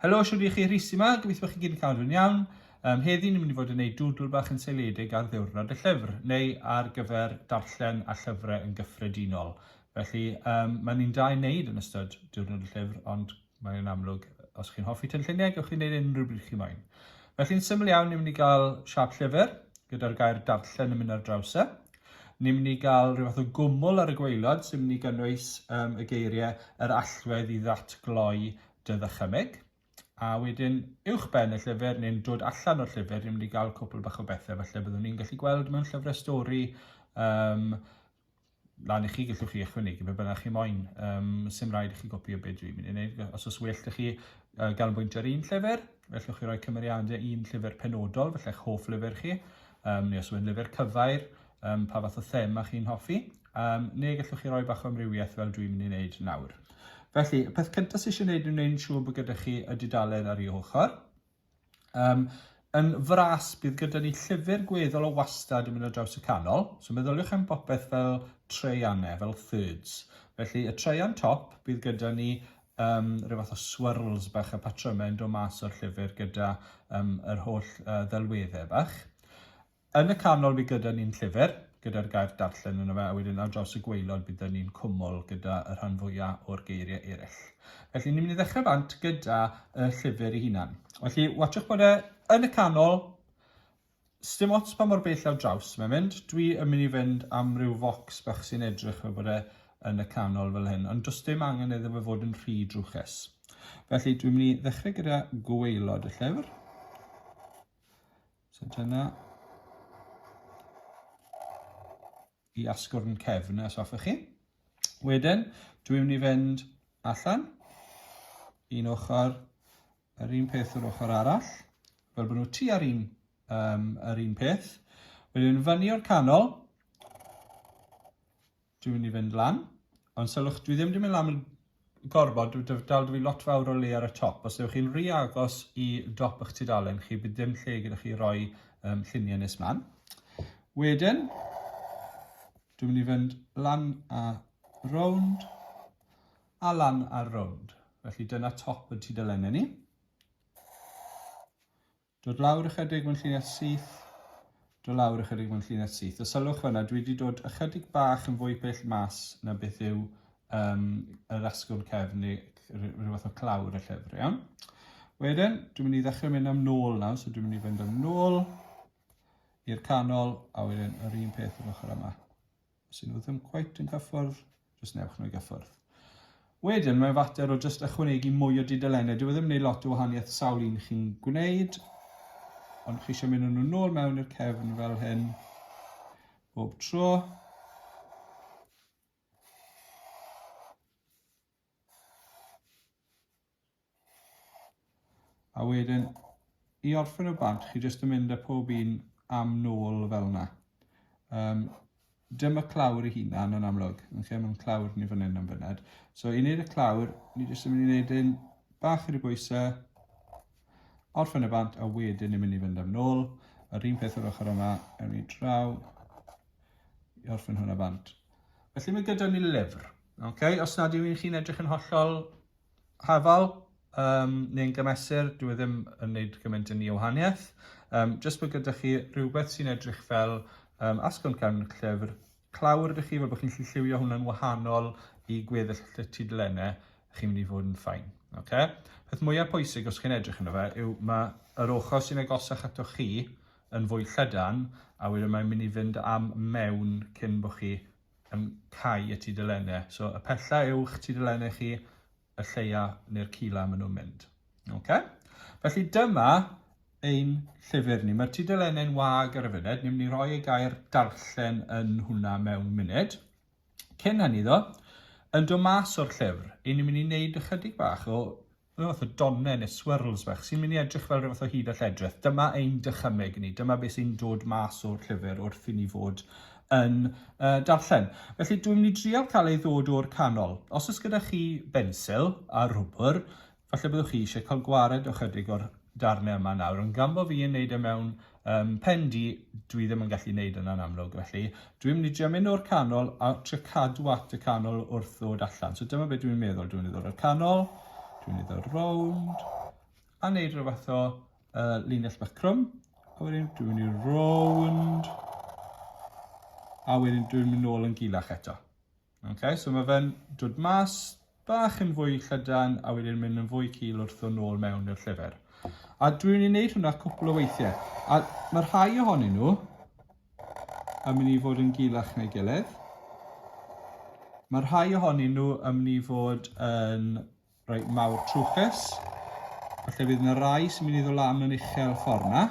Helo, siwr i chi rhisi yma, gobeithio bod chi gyd yn cael yn iawn. Um, heddi ni'n mynd i fod yn gwneud dwdl bach yn seiliedig ar ddiwrnod y llyfr, neu ar gyfer darllen a llyfrau yn gyffredinol. Felly, um, mae ni'n da i wneud yn ystod diwrnod y llyfr, ond Mae hynny'n amlwg. Os chi'n hoffi tynlluniau, gewch chi wneud unrhyw bryd chi moyn. Felly'n syml iawn, ni'n mynd i gael siap llyfr, gyda'r gair darllen yn mynd ar draws e. Ni'n mynd i gael rhyw fath o gwmwl ar y gweilod sy'n mynd i gynnwys um, y geiriau yr allwedd i ddatgloi dy ddychymyg. A wedyn, uwch ben y llyfr, neu'n dod allan o'r llyfr, ni'n mynd i gael cwpl bach o bethau, felly byddwn ni'n gallu gweld mewn llyfrau stori um, lan i chi, gallwch chi ychwanegu be bynnag chi moyn, um, sy'n rhaid i chi gopio beth dwi'n mynd i wneud, os oes well i chi uh, ganolbwyntio ar un llyfr, fellwch chi roi cymeriadau un llyfr penodol, felly eich hoff lyfr chi, um, neu os yw'n lyfr cyfair, um, pa fath o thema chi'n hoffi, um, neu gallwch chi roi bach o amrywiaeth fel dwi'n mynd i wneud nawr. Felly, y peth cyntaf sydd eisiau gwneud yw wneud yn siŵr bod gyda chi y dudalen ar ei ochr, Um, yn fras, bydd gyda ni llyfr gweddol o wastad yn mynd o draws y canol. So meddyliwch am bopeth fel treianne, fel thirds. Felly y treian top, bydd gyda ni um, rhyw fath o swirls bach a patrymau yn dod mas o'r llyfr gyda um, yr holl uh, ddelweddau bach. Yn y canol bydd gyda ni'n llyfr, gyda'r gair darllen yno fe, a wedyn ar draws y gwaelod bydd 'da ni'n cwmwl gyda y rhan fwya' o'r geirie eryll. Felly ni'n mynd i ddechrau bant gyda y llyfr ei hunan. Felly watsiwch bod e yn y canol, sdim ots pa mor bell ar draws mae'n mynd, dwi yn mynd i fynd am ryw focs bach sy'n edrych fel bod e yn y canol fel hyn, ond does dim angen iddo fe fod yn rhy drwchus. Felly dwi'n mynd i ddechrau gyda gwaelod y llyfr. So dyna i asgwrn cefn os hoffech chi. Wedyn, dwi'n mynd i fynd allan, un ochr, yr un peth yr ochr arall, fel bod nhw tu ar un, um, yr un peth. Wedyn fyny o'r canol, Dwi'n mynd i fynd lan. Ond sylwch, dwi ddim di mynd lan yn gorfod, dwi dal da fi lot fawr o le ar y top. Os ydych chi'n rhy agos i dop eich tudalen chi, bydd dim lle gyda chi roi um, lluniau nes man. Wedyn, dwi'n mynd i fynd lan a rownd a lan a rownd. Felly dyna top y tudalennau ni. Dod lawr ychydig, mae'n llinell syth. Dod lawr ychydig, mae'n llinell syth. A sylwch fyna, dwi wedi dod ychydig bach yn fwy pell mas na beth yw um, yr asgwrn cefn neu rhyw fath o clawr y llyfr, iawn? Wedyn, dwi'n mynd i ddechrau mynd am nôl nawr, so dwi'n mynd i fynd am nôl i'r canol, a wedyn yr un peth yr ochr yma. Os ydyn nhw ddim cweit yn cyffwrdd, jyst newch nhw i gyffwrdd. Wedyn, mae'n fater o jyst ychwanegu mwy o dudalennau. Dyw e ddim yn gwneud lot o wahaniaeth sawl un chi'n gwneud, ond chi eisiau mynd nhw'n ôl mewn i'r cefn fel hyn bob tro. A wedyn, i orffen o bant, chi jyst yn mynd â pob un am nôl fel yna. Um, dyma clawr i hunan yn amlwg, yn lle mae'n clawr ni fan hyn am fyned. So i wneud y clawr, ni jyst yn mynd i wneud un bach i'r bwysau, orffen y bant, a wedyn ni'n mynd i fynd am nôl. Yr un peth o'r ochr yma, ewn ni draw i orffen hwnna bant. Felly mae gyda ni lyfr. Okay, os nad yw'n chi'n edrych yn hollol hafal, um, neu'n gymesur, dwi e ddim yn gwneud gymaint yn ei wahaniaeth. Um, jyst bod gyda chi rhywbeth sy'n edrych fel um, asgwrn cefn y llyfr, clawr ydych chi, fel bod chi'n lli lliwio hwnna'n wahanol i gweddill y tudlennau, chi'n mynd i fod yn ffain. Okay? Peth mwyaf pwysig os chi'n edrych yno fe yw mae yr ochr sy'n agosach ato chi yn fwy llydan a wedyn mae'n mynd i fynd am mewn cyn bod chi yn cau y tudalennau. So y pella yw'ch tudalennau chi, y lleia neu'r cila maen nhw'n mynd. Okay? Felly dyma ein llyfr ni. Mae'r tudalennau'n wag ar y funud. Ni'n mynd i roi y gair darllen yn hwnna mewn munud. Cyn hynny ddo, yn dod mas o'r llyfr, i ni'n mynd i wneud ychydig bach o Rhyw fath o donnen neu swirls bach sy'n mynd i edrych fel rhyw fath o hud a lledrith. Dyma ein dychymyg ni, dyma beth sy'n dod mas o'r llyfr wrth i ni fod yn uh, darllen. Felly dwi'n mynd i drial cael ei ddod o'r canol. Os oes gyda chi bensil a rwbr, falle byddwch chi eisiau cael gwared o chydig o'r darnau yma nawr, ond gan bod fi yn neud e mewn um, pen di, dwi ddim yn gallu gwneud yna'n amlwg. Felly, dwi'n mynd i drio mynd o'r canol a trio cadw at y canol wrth ddod allan. So dyma beth dwi'n meddwl. Dwi'n mynd i ddod o'r canol, dwi'n mynd i ddod rownd, a wneud rhyw fath o uh, linell bach crwm. A wedyn dwi'n mynd i rownd, a wedyn dwi'n mynd nôl yn gilach eto. Okay, so mae fe'n dod mas bach yn fwy llydan a wedyn mynd yn fwy cil wrth ddod nôl mewn i'r llyfr. A dwi'n ei wneud hwnna cwpl o weithiau. A mae rhai ohonyn nhw yn mynd i fod yn gilach neu gilydd. Mae rhai ohonyn nhw yn mynd i fod yn rhoi mawr trwchus. Felly bydd yna rai sy'n mynd i ddod lan yn uchel ffordd yna.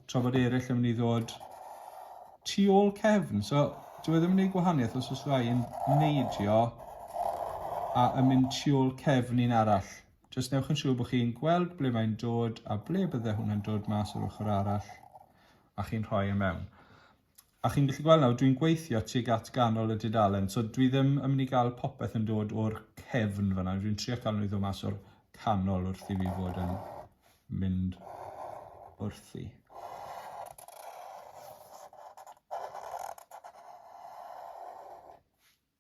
tra bod eraill yn mynd i ddod tu ôl cefn. So, dwi e ddim yn gwneud gwahaniaeth os oes rai yn neidio a yn mynd tu ôl cefn un arall. Jyst newch yn siŵr bod chi'n gweld ble mae'n dod a ble bydde hwnna'n dod mas o'r ochr arall a chi'n rhoi e mewn. A chi'n gallu gweld nawr, dwi'n gweithio tuag at ganol y dudalen, so dwi ddim yn mynd i gael popeth yn dod o'r cefn fan'na, dwi'n trio cael nhw i ddod mas o'r canol wrth i fi fod yn mynd wrthi.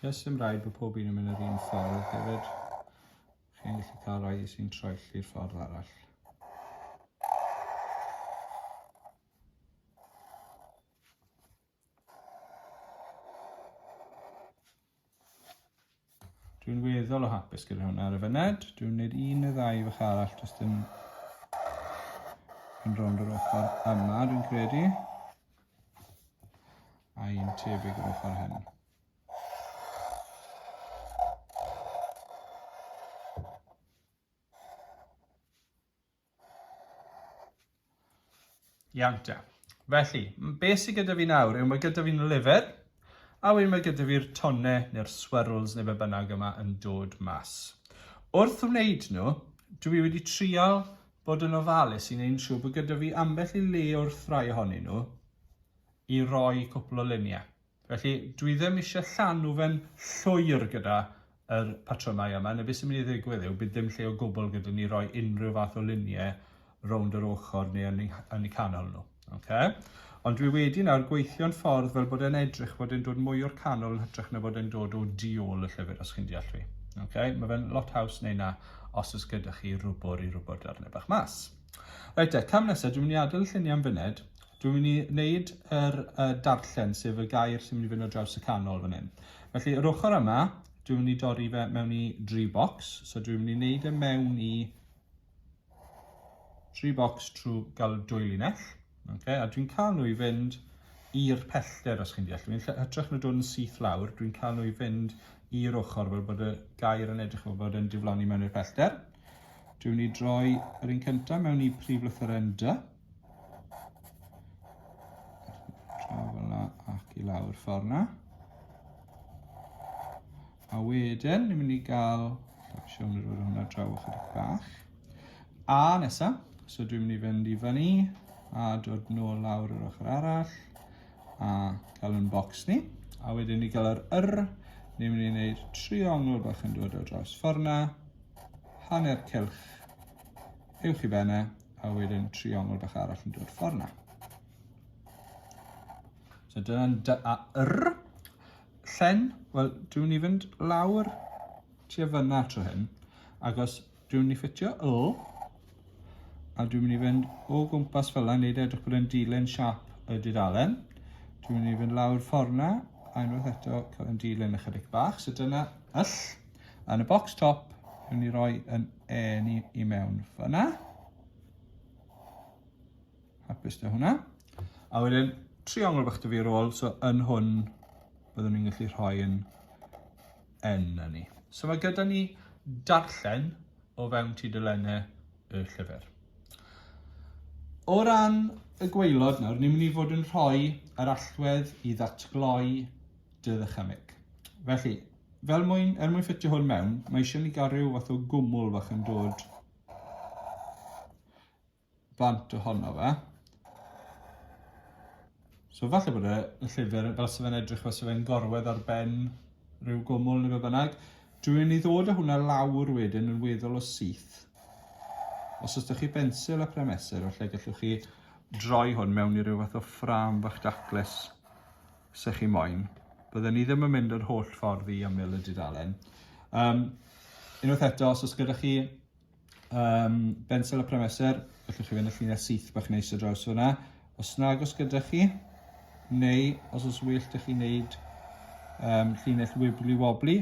Does dim rhaid bod pob un yn mynd yr un ffordd hefyd. Chi'n gallu cael rhai sy'n troelli'r ffordd arall. Dwi'n weddol o hapus gyda hwnna ar y fyned. Dwi'n gwneud un neu ddau fach arall, does dim yn rownd yr ochr yma, dwi'n credu. A un tebyg yr ochr hyn. Iawn te. Felly, beth sydd gyda fi nawr yw mae gyda fi'n lyfr, a wedyn mae gyda fi'r tonne neu'r swirls neu be bynnag yma yn dod mas. Wrth wneud nhw, dwi wedi trial bod yn ofalus i wneud siŵr bod gyda fi ambell i le o'r ffrau ohonyn nhw i roi cwpl o luniau. Felly, dwi ddim eisiau llanw fe'n llwyr gyda yr patrymau yma, neu beth sy'n mynd i ddigwydd yw, bydd dim lle o gwbl gyda ni roi unrhyw fath o luniau rownd yr ochr neu yn eu, yn eu canol nhw. Okay? Ond dwi wedi nawr gweithio'n ffordd fel bod e'n edrych bod e'n dod mwy o'r canol yn hytrach na bod e'n dod o di ôl y llyfr, os chi'n deall fi. Okay? Mae fe'n lot haws neu na, os oes gyda chi rwbwr i rwbwr darnau bach mas. Reit te, cam nesaf, dwi'n mynd i adael y lluniau am fyned, Dwi'n mynd i wneud yr uh, darllen, sef y gair sy'n mynd i fynd o draws y canol fan hyn. Felly, yr ochr yma, dwi'n mynd i dorri fe mewn i dri box. So dwi'n mynd i wneud e mewn i dri box trwy gael dwy linell. Okay? A dwi'n cael nhw i fynd i'r pellter, os chi'n deall. Dwi'n hytrach na dod yn syth lawr, dwi'n cael nhw i fynd i'r ochr fel bod y gair yn edrych fel bod yn diflannu mewn i'r pellter. Dwi'n mynd i droi yr un cyntaf mewn i prif lythyren dy. Draw fel la ac i lawr ffordd na. A wedyn, ni'n mynd i gael... Siwr mynd i roi hwnna draw ychydig bach. A nesa, so dwi'n mynd i fynd i fyny a dod nôl lawr yr ochr arall a cael yn bocs ni. A wedyn ni gael yr yr, ni'n mynd i wneud triongl bach yn dod o dros ffordd na, hanner cylch uwch i benne, a wedyn triongl bach arall yn dod ffordd na. So dyna'n dy a r. Llen, wel, dwi'n ni fynd lawr ti a fyna tro hyn, agos dwi'n ni ffitio y, a dwi'n mynd i fynd o gwmpas fel yna, neud e edrych bod e'n dilyn siap y dudalen. Dwi'n mynd i fynd lawr ffordd na, a unwaith eto cael yn dilyn ychydig bach. So dyna yll. Yn y box top, rwy'n ni roi yn eni i mewn fyna. Hapus dy hwnna. A wedyn, triongl bach dy fi ar ôl, so yn hwn, byddwn ni'n gallu rhoi yn yn ni. So mae gyda ni darllen o fewn ti dylennau y llyfr. O ran y gweilod nawr, ni'n mynd i fod yn rhoi yr allwedd i ddatgloi dy ddychymyg. Felly, Fel mwyn, er mwyn ffitio hwn mewn, mae eisiau ni gael rhyw fath o gwmwl fach yn dod bant ohono fe. So falle bod y llyfr, fel sef fe'n edrych fel sef fe'n gorwedd ar ben rhyw gwmwl neu fe bynnag, dwi'n mynd i ddod â hwnna lawr wedyn yn weddol o syth. Os ydych chi bensil a premesur, felly gallwch chi droi hwn mewn i ryw fath o ffram fach daclus. 'sech chi moyn. Bydden ni ddim yn mynd yr holl ffordd i ymyl y dudalen. Um, unwaith eto, os oes gyda chi um, bensel a premesur, allwch chi fynd y llinell syth bach neis o draws fyna. Os nag os gyda chi, neu os oes well da chi wneud um, llinell wibli wobli,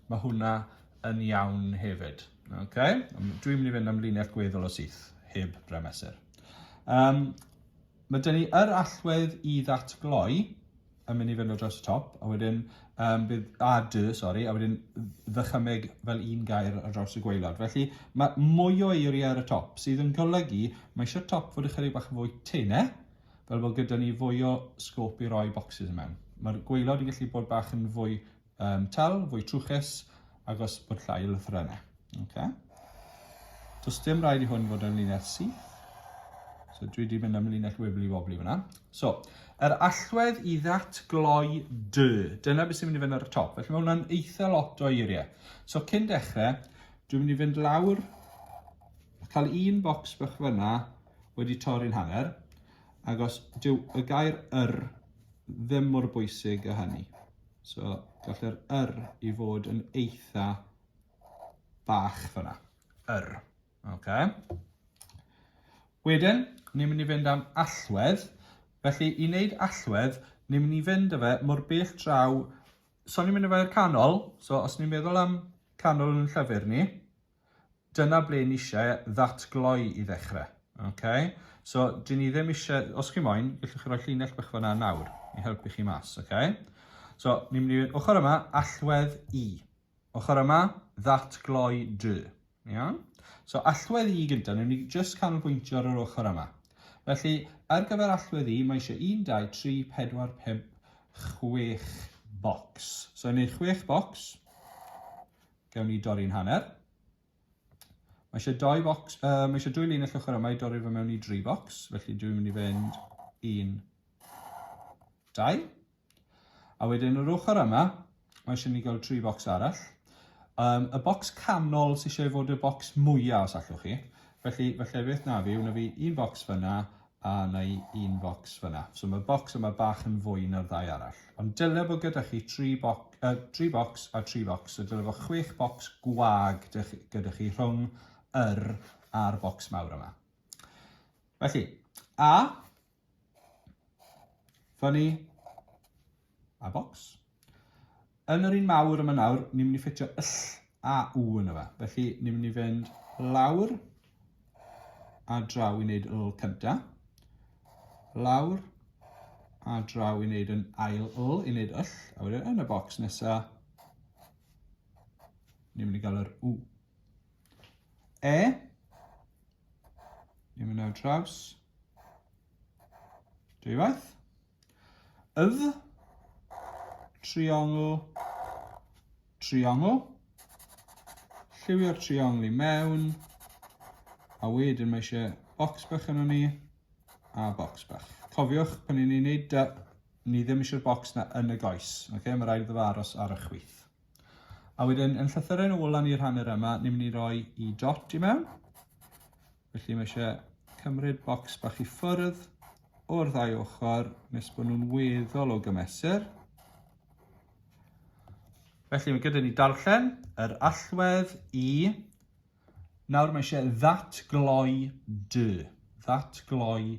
mae hwnna yn iawn hefyd. Okay? Dwi'n mynd i fynd am llinell gweddol o syth, heb bremesur. Um, Mae 'da ni yr allwedd i ddatgloi, yn mynd i fynd o dros y top, a wedyn um, bydd a dy, sori, a wedyn ddychymeg fel un gair ar draws y gweilod. Felly mae mwy o eiriau ar y top, sydd yn golygu mae eisiau top fod ychydig bach yn fwy teine, fel bod gyda ni fwy o sgôp i roi bocsys mewn. Mae'r gweilod yn gallu bod bach yn fwy um, tal, fwy trwchus, agos bod llai o lythrennau. Okay. Does dim rhaid i hwn fod yn linell syth. So dwi wedi mynd am linell wibli wobli fyna. So, yr allwedd i ddatgloi dy. Dyna beth sy'n mynd i fynd ar y top. Felly mae hwnna'n eitha lot o eiriau. So cyn dechrau, dwi'n mynd i fynd lawr, cael un bocs bych fyna wedi torri'n hanner, agos dyw y gair yr ddim mor bwysig a hynny. So, gall yr yr i fod yn eitha bach fyna. Yr. Okay. Wedyn, ni'n mynd i fynd am allwedd. Felly, i wneud allwedd, ni'n mynd i fynd â fe mor bell draw... So, ni'n mynd â fe i'r canol. So, os ni'n meddwl am canol yn llyfr ni, Dyna ble ni eisiau ddatgloi i ddechrau. Okay? So, dyn ni ddim eisiau, os chi moyn, gallwch chi roi llinell bych fyna nawr i helpu chi mas. Okay? So, ni'n mynd i fynd ochr yma, allwedd i. Ochr yma, ddatgloi dy. Iawn? So, allwedd i gyntaf, ni'n mynd i just canolbwyntio ar yr ochr yma. Felly, ar gyfer allwedd i, mae eisiau 1, 2, 3, 4, 5, chwech bocs. So, yn ei chwech bocs, Gawn ni dorri'n hanner. Mae eisiau doi bocs, uh, mae eisiau dwy lun y llwchwr yma i dorri fe mewn i dri bocs, felly dwi'n mynd i fynd un, dau. A wedyn yr ochr yma, mae eisiau ni gael tri bocs arall. Um, y bocs canol sy'n eisiau fod y bocs mwyaf os allwch chi. Felly, felly beth na fi, wna fi un bocs fyna, a na i un bocs fyna. So mae'r bocs yma bach yn fwy na'r ddau arall. Ond dylai bod gyda chi 3 boc, uh, 3 bocs a 3 bocs, so dylai bod 6 bocs gwag gyda chi rhwng yr a'r bocs mawr yma. Felly, a, fyny, A bocs. Yn yr un mawr yma nawr, ni'n mynd i ffitio yll a u yn yma. Felly, ni'n mynd i fynd lawr a draw i wneud yll cynta. Lawr a draw i wneud yn ail yll, i wneud yll. A wedyn yn y bocs nesa, ni'n mynd i gael yr u. E, ni'n mynd ar draws, dwywaith. Yf, triongl, triongl. Lliwio'r triongl i mewn. A wedyn mae eisiau bocs bach yn ni a bocs bach. Cofiwch, pan ni'n ei wneud dy, ni ddim eisiau'r bocs na yn y goes. Okay? Mae rhaid iddo aros ar y chwith. A wedyn, yn llythyrau'n ôl lan i'r hanner yma, ni'n mynd i roi i dot i mewn. Felly mae eisiau cymryd bocs bach i ffwrdd o'r ddau ochr nes bod nhw'n weddol o gymesur. Felly mae gyda ni darllen yr allwedd i. Nawr mae eisiau ddatgloi dy. Ddatgloi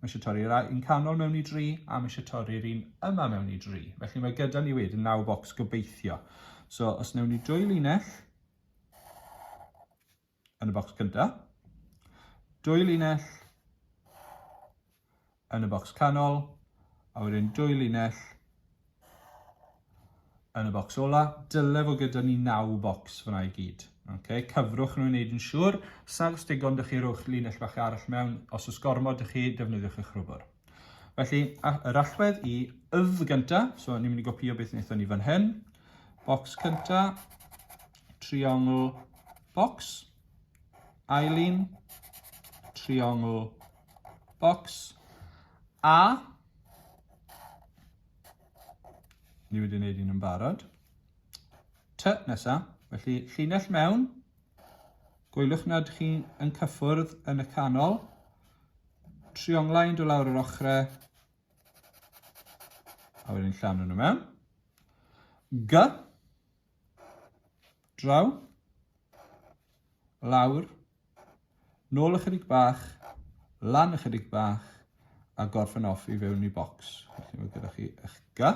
Mae eisiau torri'r un canol mewn i dri, a mae eisiau torri'r un yma mewn i dri. Felly mae gyda ni wedyn naw bocs gobeithio. So os newn ni dwy linell yn y bocs cyntaf, dwy linell yn y bocs canol, a wedyn dwy linell yn y bocs ola, dyle fod gyda ni 9 bocs fyna i gyd. Okay. Cyfrwch nhw i wneud yn siŵr, sag os digon dych chi rhowch linell fach arall mewn, os oes gormod dych chi defnyddiwch eich rhwbr. Felly, yr allwedd i ydd gynta, so ni'n mynd i gopio beth wnaethon ni fan hyn, bocs cynta, triongl, bocs, ail un, triongl, bocs, a Ni wedi gwneud un yn barod. T nesaf. Felly llinell mewn. Gwylwch nad chi yn cyffwrdd yn y canol. Trionglau yn dod lawr yr ochrau. A wedyn llanw nhw mewn. G. Draw. Lawr. Nôl ychydig bach. Lan ychydig bach. A gorffen off i fewn i bocs. Felly mae gyda chi eich ga.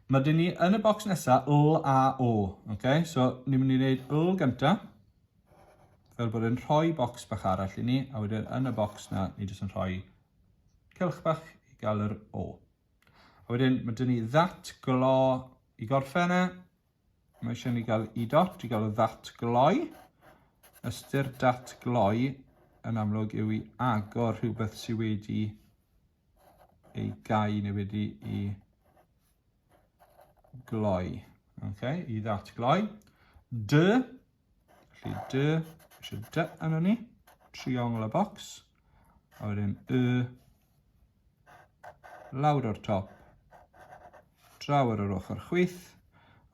Mae dyn ni yn y bocs nesaf, L a O. Okay? So, ni'n mynd i wneud L gyntaf. Fel bod yn rhoi bocs bach arall i ni. A wedyn yn y bocs na, ni jyst yn rhoi cylch bach i gael yr O. A wedyn mae dyn ni that glo i gorffen e. Mae eisiau ni gael i dot i gael y that gloi. Ystyr dat gloi yn amlwg yw i agor rhywbeth sydd wedi ei gau neu wedi i gloi. Okay, i that gloi. Dy Felly dy, eisiau dy yna ni, triongl y bocs, a wedyn y, lawr o'r top, draw ar yr ochr chwith,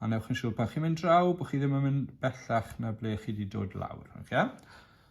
a newch yn siŵr pan chi'n mynd draw bod chi ddim yn mynd bellach na ble chi wedi dod lawr. Okay?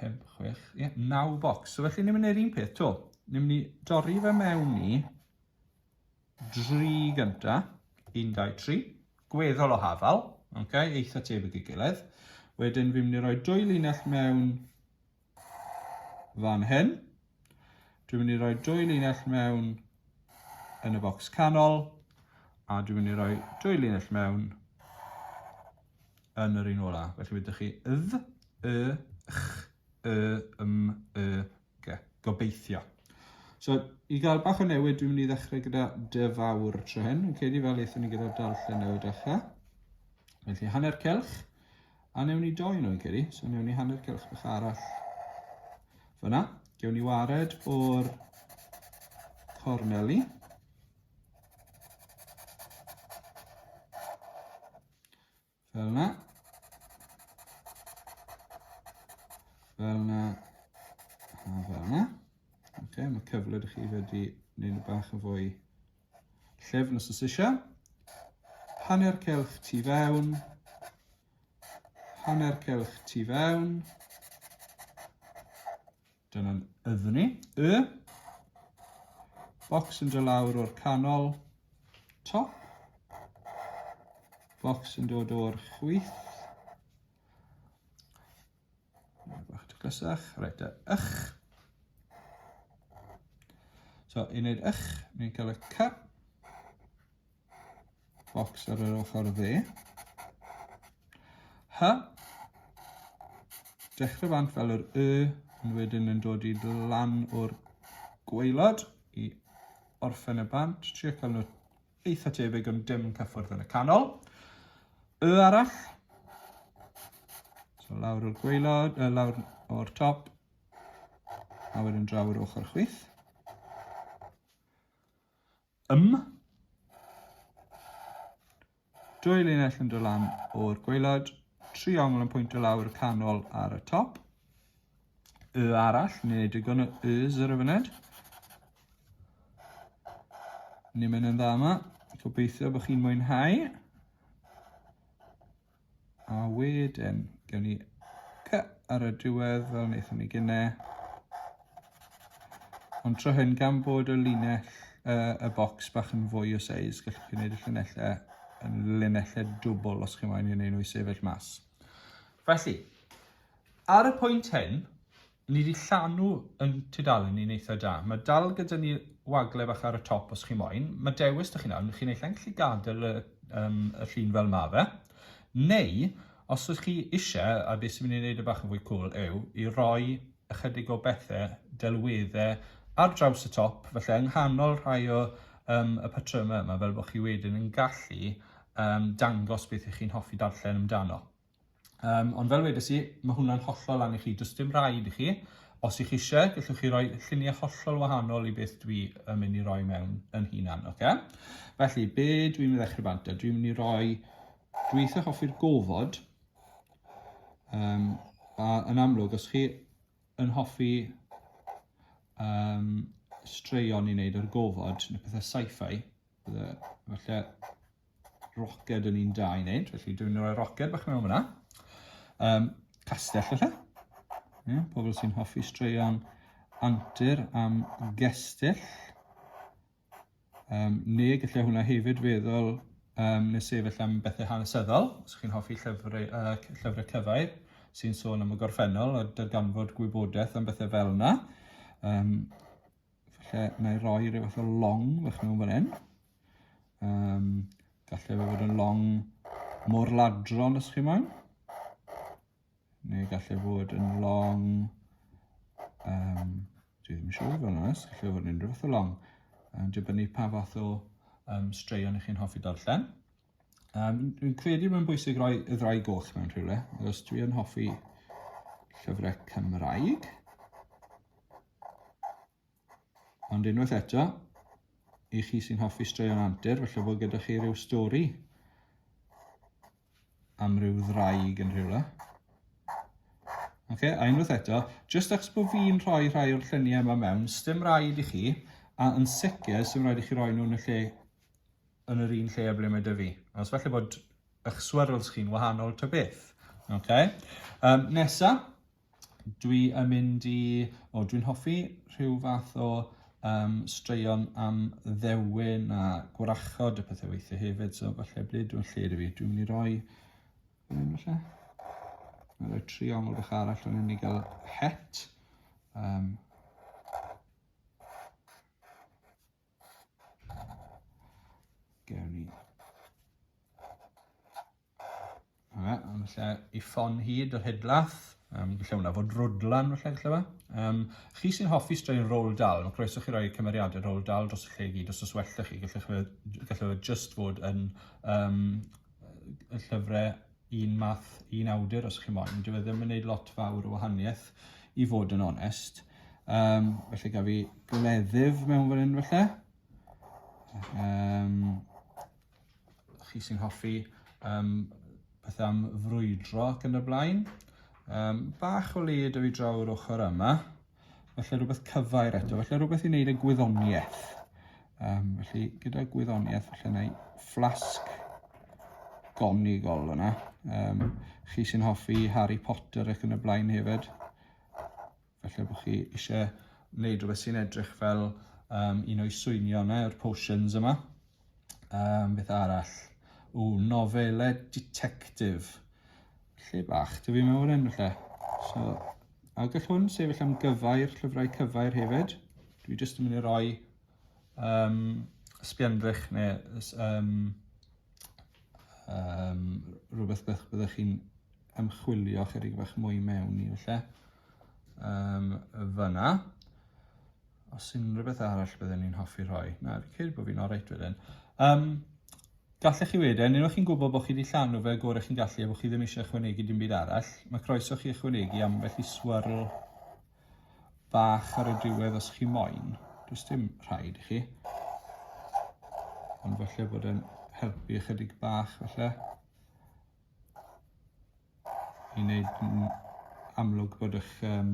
5, 6, ie, 9 bocs. So felly ni'n mynd i'r un peth to. Ni'n mynd i dorri fe mewn i dri gynta. 1, 2, 3. Gweddol o hafal. Okay, eitha tebyg i gilydd. Wedyn fi'n mynd i roi dwy linell mewn fan hyn. Dwi'n mynd i roi dwy linell mewn yn y bocs canol a dwi'n mynd i roi dwy linell mewn yn yr un ola. Felly wydych chi ydd, y, ch, y, ym, y, ge. Gobeithio. So, i gael bach o newid, dwi'n mynd i ddechrau gyda dy fawr tro hyn. Yn credu fel eithon ni gyda darllen newid dechrau. Felly, hanner celch. A newn ni doi yn o'i geri, so newn ni hanner cylch bach arall fyna. Gewn ni wared o'r corneli. Fel yna. Fel yna. A fel yna. Ok, mae cyfled i chi wedi gwneud nhw bach yn fwy Llyfn os oes eisiau. Hanner celch tu fewn. Hanner celch tu fewn. Dyna'n yddyn ni. Y. Bocs yn dod lawr o'r canol. Top. Bocs yn dod o'r chwith. Bach taclusach, reit, a ych. So, i wneud ych, ni'n cael y cy. Box ar yr ochr dde. Hy. Dechrau bant fel yr y, ond wedyn yn dod i lan o'r gweilod i orffen y bant. Trio cael nhw Eitha tebyg ond dim cyffwrdd yn y canol. Y arall. So lawr o'r gweilod, uh, lawr o'r top. A wedyn draw o'r ochr chwith. Ym. Dwy linell yn dod lan o'r gweilod. Tri ongl yn pwynt o lawr y canol ar y top. Y arall, neu digon o Ys ar y fyned. Ni'n mynd yn dda yma. Gobeithio bod chi'n mwynhau. A wedyn, gewn ni cy ar y diwedd fel wnaethon ni gynne. Ond tro hyn, gan bod y linell, uh, y bocs bach yn fwy o seis, gallwch chi wneud y llinellau yn linellau dwbl os chi'n moyn i wneud nhw i sefyll mas. Felly, Ar y pwynt hyn, ni 'di llanw yn tudalen ni'n eitha da. Mae dal gyda ni wagle bach ar y top os chi moyn. Mae dewis 'da chi nawr, chi naill ai'n gallu gadael y, um, y llun fel ma fe, neu os ydych chi eisiau, a beth sy'n mynd i wneud y bach yn fwy cool yw i roi ychydig o bethau delweddau ar draws y top, felly yng nghanol rhai o um, y patrymau yma, fel bod chi wedyn yn gallu um, dangos beth ych chi'n hoffi darllen amdano. Um, ond fel wedes i, mae hwnna'n hollol lan i chi. Does dim rhaid i chi. Os ych chi eisiau, gallwch chi roi lluniau hollol wahanol i beth dwi yn mynd i roi mewn yn hunan. Okay? Felly, be dwi'n mynd i ddechrau bant? Dwi'n mynd i roi dweithio hoffi'r gofod. Um, a yn amlwg, os chi yn hoffi um, straeon i wneud ar gofod neu pethau sci-fi, Bydde, falle, roced yn un da i wneud, felly dwi'n rhoi roced bach mewn fyna. Um, castell, felly. Yeah, pobl sy'n hoffi straeon antur am gestyll. Um, neu gallai hwnna hefyd feddwl um, nes sefyll am bethau hanesyddol, os chi'n hoffi llyfrau, uh, llyfrau cyfau sy'n sôn am y gorffennol a darganfod gwybodaeth am bethau fel yna. Um, Felly, mae rhoi rhyw fath o long fach mewn fan hyn. Um, Gallai fe fod yn long mor ladron os chi moyn. Neu gallai fod yn long... Um, dwi ddim yn siŵr fel nes, gallai fod yn unrhyw fath o long. Um, dibynnu pa fath o um, straeon ych chi'n hoffi darllen. Um, dwi'n credu mae'n bwysig roi y ddau goll mewn rhywle, os dwi yn hoffi llyfrau Cymraeg. Ond unwaith eto, i chi sy'n hoffi straeon antur, felly bod gyda chi rhyw stori am rhyw ddraig yn rhywle. Okay, a unwaith eto, jyst achos bod fi'n rhoi rhai o'r lluniau yma mewn, stym rhaid i chi, a yn sicr, stym rhaid i chi roi nhw'n y lle yn yr un lle a ble mae dy fi. Os falle bod eich swirls chi'n wahanol ta beth. Okay. Um, nesa, dwi yn mynd i... O, dwi'n hoffi rhyw fath o um, straeon am ddewin a gwrachod y pethau weithiau hefyd, so falle ble dwi'n lle dwi fi. Dwi'n mynd i roi... Dwi'n falle? Dwi'n rhoi triongl bach arall o'n i gael het. Um, Gary. Yna, am lle i ffon hyd yr hydlath. Um, lle hwnna fod rwdlan felly lle fe. Um, chi sy'n hoffi straen roll dal, mae croeso chi roi cymeriadau roll dal dros y lle i gyd os os welltych chi, gallwch chi just fod yn um, y llyfrau un math, un awdur os chi moyn. Dyw e ddim yn gwneud lot fawr o wahaniaeth i fod yn onest. Um, felly gaf fi gleddyf mewn fan hyn felly. Um, chi sy'n hoffi um, beth am frwydro ac yn y blaen. Um, bach o le dwi draw o'r ochr yma. Felly rhywbeth cyfair eto, felly rhywbeth i wneud y gwyddoniaeth. Um, felly gyda gwyddoniaeth, felly yna i fflasg gonigol yna. Um, chi sy'n hoffi Harry Potter ac yn y blaen hefyd. Felly bod chi eisiau wneud rhywbeth sy'n edrych fel um, un o'i swynio yna, yr potions yma. Um, beth arall? O, nofelau detectif. Lle bach, dwi fi mewn yn lle. So, a gall hwn sefyll am gyfair, llyfrau cyfair hefyd. Dwi jyst yn mynd i roi um, sbiandrych neu um, um, rhywbeth beth byddwch chi'n ymchwilio chydig bach mwy mewn i felly. Um, fyna. Os unrhyw beth arall byddwn ni'n hoffi rhoi. Na, fi'n credu bod fi'n oreit wedyn. Um, gallech chi wedyn, unwaith chi'n gwybod bod chi wedi llanw fe gorau chi'n gallu a bod chi ddim eisiau ychwanegu dim byd arall, mae croeso chi ychwanegu am felly swirl bach ar y diwedd os chi moyn. Does dim rhaid i chi. Ond felly bod e'n helpu ychydig bach felly. i wneud yn amlwg bod eich um,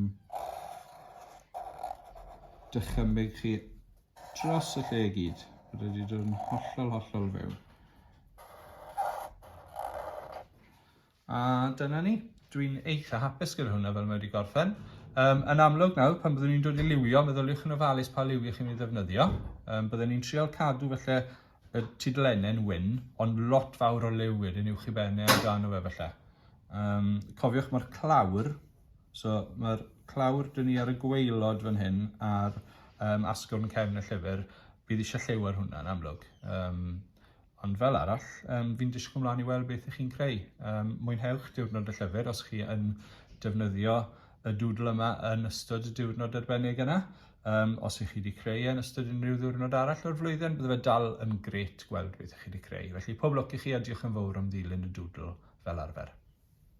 dychymyg chi dros y lle i gyd. Bod wedi dod yn hollol, hollol fewn. A dyna ni. Dwi'n eitha hapus gyda hwnna fel mae wedi gorffen. Um, yn amlwg nawr, pan byddwn ni'n dod i liwio, meddyliwch yn ofalus pa liw ych chi'n ei ddefnyddio. Um, byddwn ni'n trial cadw felly y tudlennau'n wyn, ond lot fawr o liw wedyn uwch i ben e amdano fe falle. Um, cofiwch mae'r clawr, so mae'r clawr dyn ni ar y gweilod fan hyn a'r um, asgwrn cefn y llyfr, bydd eisiau lliw ar hwnna'n amlwg. Um, ond fel arall, um, fi'n disgwyl mlaen i weld beth ych chi'n creu. Um, mwynhewch diwrnod y llyfr os chi yn defnyddio y dŵdl yma yn ystod y diwrnod arbennig yna. Um, os ych chi wedi creu e yn ystod unrhyw ddiwrnod arall o'r flwyddyn, bydde fe dal yn gret gweld beth ych chi wedi creu. Felly pob lwc i chi a diolch yn fawr am ddilyn y doodle fel arfer.